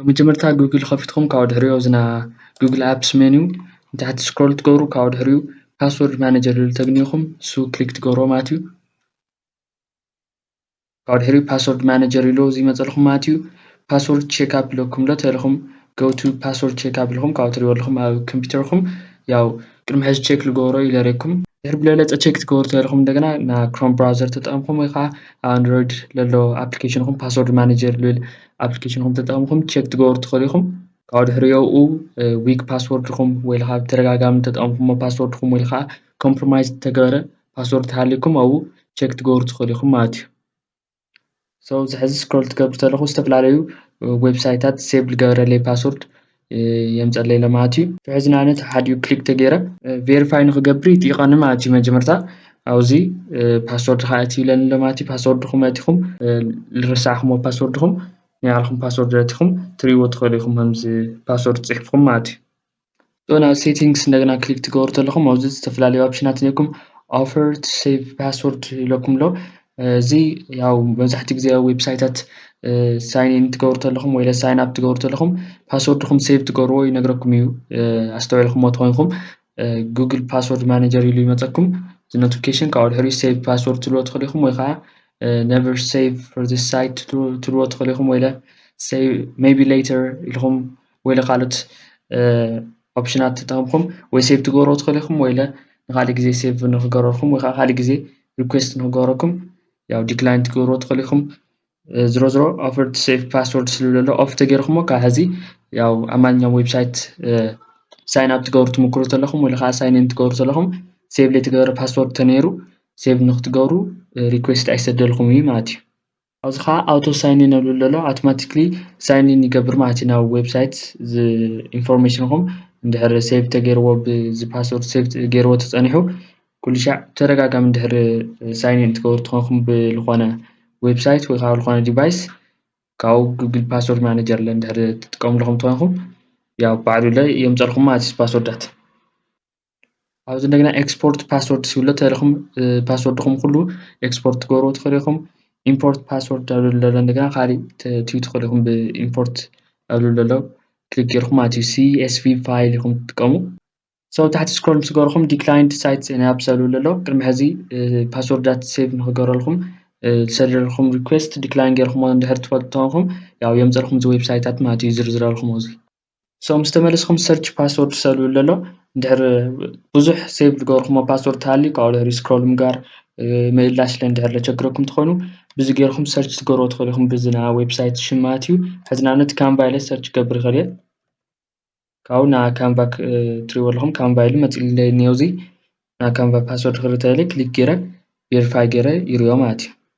ብመጀመርታ ጉግል ከፊትኩም ካብኡ ድሕሪኡ ኣብዛ ናይ ጉግል ኣፕስ ሜንዩ ንታሕቲ ስክሮል ትገብሩ ካብኡ ድሕሪኡ ፓስወርድ ማነጀር ዝብል ተግንዩኹም ንሱ ክሊክ ትገብርዎ ማለት እዩ ካብኡ ድሕሪኡ ፓስወርድ ማነጀር ኢሉ እዚ ይመፀልኩም ማለት እዩ ፓስወርድ ቼክ ኣፕ ኢለኩም ዶ ተኢልኩም ጎቱ ፓስወርድ ቼክ ኣፕ ኢልኩም ካብኡ ትሪእዎ ኣለኹም ኣብ ኮምፒውተርኩም ያው ቅድሚ ሕዚ ቼክ ልገብሮ ኢለ ረይኩም ድሕሪ ብለለፀ ቼክ ትገብሩ ተኢልኩም እንደገና ና ክሮም ብራውዘር ተጠቐምኩም ወይ ከዓ ኣብ ኣንድሮይድ ለሎ ኣፕሊኬሽንኹም ፓስወርድ ማነጀር ልብል ኣፕሊኬሽን ከም ተጠቕምኩም ቸክ ትገብሩ ትኽእሉ ኢኹም ካብኡ ድሕሪ የኡ ዊክ ፓስወርድኹም ወይ ከዓ ብተደጋጋሚ ተጠቕምኩሞ ፓስወርድኹም ወይ ከዓ ኮምፕሮማይዝ ተገበረ ፓስወርድ ተሃሊኩም ኣብኡ ቸክ ትገብሩ ትኽእሉ ኢኹም ማለት እዩ ሰው ዝሕዚ ስክሮል ትገብሩ ተለኹ ዝተፈላለዩ ዌብሳይታት ሴቭ ዝገበረለይ ፓስወርድ የምጸለይ ለማት እዩ ፍሕዚ ንኣነት ሓዲኡ ክሊክ ተገይረ ቬሪፋይ ንክገብር ይጥይቐኒ ማለት እዩ መጀመርታ ኣብዚ ፓስወርድ ከዓ እቲ ይብለኒ ለማት እዩ ፓስወርድኹም ኣቲኹም ልረሳዕኹም ፓስወርድኹም ናይ ባዕልኹም ፓስወርድ ኣቲኹም ትርእይዎ ትኽእሉ ኢኹም ከምዚ ፓስወርድ ጽሒፍኩም ማለት እዩ ዞና ሴቲንግስ እንደገና ክሊክ ትገብሩ ተለኹም ኣብዚ ዝተፈላለዩ ኦፕሽናት ነኩም ኦፈር ሴቭ ፓስወርድ ኢለኩም ኣሎ እዚ ያው መብዛሕትኡ ግዜ ኣብ ዌብሳይታት ሳይን ኢን ክትገብሩ ከለኹም ወይ ሳይን ኣፕ ክትገብሩ ከለኹም ፓስወርድኹም ሴቭ ትገብርዎ ይነግረኩም እዩ ኣስተውዒልኩሞ ተኾይንኩም ጉግል ፓስወርድ ማኔጀር ኢሉ ይመፀኩም እዚ ኖቲፊኬሽን ካብኡ ድሕሪኡ ሴቭ ፓስወርድ ትብልዎ ትኽእሉ ኢኹም ወይ ከዓ ነቨር ሴቭ ፎር ዚስ ሳይት ትብልዎ ትኽእሉ ኢኹም ወይ ሴቭ ሜቢ ሌተር ኢልኹም ወይ ካልኦት ኦፕሽናት ተጠቕምኩም ወይ ሴቭ ትገብርዎ ትኽእሉ ኢኹም ወይ ንካሊእ ግዜ ሴቭ ንክገብረልኩም ወይ ከዓ ካሊእ ግዜ ሪኩዌስት ንክገብረኩም ያው ዲክላይን ትገብርዎ ትኽእሉ ኢኹም ዝሮ ዝሮ ኦፈር ሴፍ ፓስወርድ ስሉ ዘሎ ኦፍ ተገይርኩሞ ካብ ሕዚ ያው ኣብ ማንኛውም ዌብሳይት ሳይን ኣብ ትገብሩ ትምክሩ ተለኹም ወይ ከዓ ሳይን ኢን ትገብሩ ተለኹም ሴቭ ዘይተገበረ ፓስወርድ ተነይሩ ሴቭ ንክትገብሩ ሪኩዌስት ኣይሰደልኩም እዩ ማለት እዩ ኣብዚ ከኣ ኣውቶ ሳይኒን ንብሎ ዘሎ ኣውቶማቲክሊ ሳይኒን ይገብር ማለት እዩ ናብ ዌብሳይት ኢንፎርሜሽንኹም እንድሕር ሴቭ ተገይርዎ ብዚ ፓስወርድ ሴቭ ገይርዎ ተጸኒሑ ኩሉ ሻዕ ተደጋጋሚ እንድሕር ሳይኒን እትገብሩ ተኾንኩም ብዝኾነ ዌብሳይት ወይ ከኣ ዝኾነ ዲቫይስ ካብኡ ጉግል ፓስወርድ ማነጀር ለ እንድሕር ትጥቀምሉ ተኾይንኩም ያው ባዕሉ ለ የምጸልኩም ማለት እዩ ፓስወርዳት። ኣብዚ እንደገና ኤክስፖርት ፓስወርድ ዝብሎ ተለኹም ፓስወርድኹም ኩሉ ኤክስፖርት ትገብሩ ትኽእሉ ኢኹም ኢምፖርት ፓስወርድ ኣብ ዘሎ እንደገና ካሊእ ትዩ ትኽእሉ ኢኹም ብኢምፖርት ኣብ ዘሎ ክሊክ ጌርኩም ማለት እዩ ሲኤስቪ ፋይል ኢኹም ትጥቀሙ ሰው ታሕቲ ስክሮል ምስ ገበርኩም ዲክላይንድ ሳይት ናብ ሰብ ዘሎ ቅድሚ ሕዚ ፓስወርዳት ሴቭ ንክገረልኩም ዝሰደልኩም ሪኩዌስት ዲክላይን ጌርኩሞ እንድሕር ትፈልጡ ተኾንኩም ያው የምፀልኩም እዚ ዌብሳይታት ማለት እዩ ዝርዝረልኩም እዚ ሶ ምስ ተመለስኩም ሰርች ፓስወርድ ትሰእልዎ ኣሎ እንድሕር ብዙሕ ሴቭ ዝገበርኩሞ ፓስወርድ ተሃልዩ ካብኡ ድሕሪ ስክሮል ምግባር ምእላሽ እንድሕር ዘቸግረኩም እንተኾይኑ ብዚ ጌርኩም ሰርች ክትገብርዎ ትኽእሉ ኢኹም ብዚ ናይ ዌብሳይት ሽም ማለት እዩ ሕዚ ንኣብነት ካንቫ ኢለ ሰርች ክገብር ይኽእል እየ ካብኡ ና ካንቫ ትሪእዎ ኣለኹም ካንቫ ኢሉ መፂኡለይ እኒኦ እዚ ና ካንቫ ፓስወርድ ክርኢ ተለይ ክሊክ ጌረ ቬሪፋይ ጌረ ይሪኦ ማለት እዩ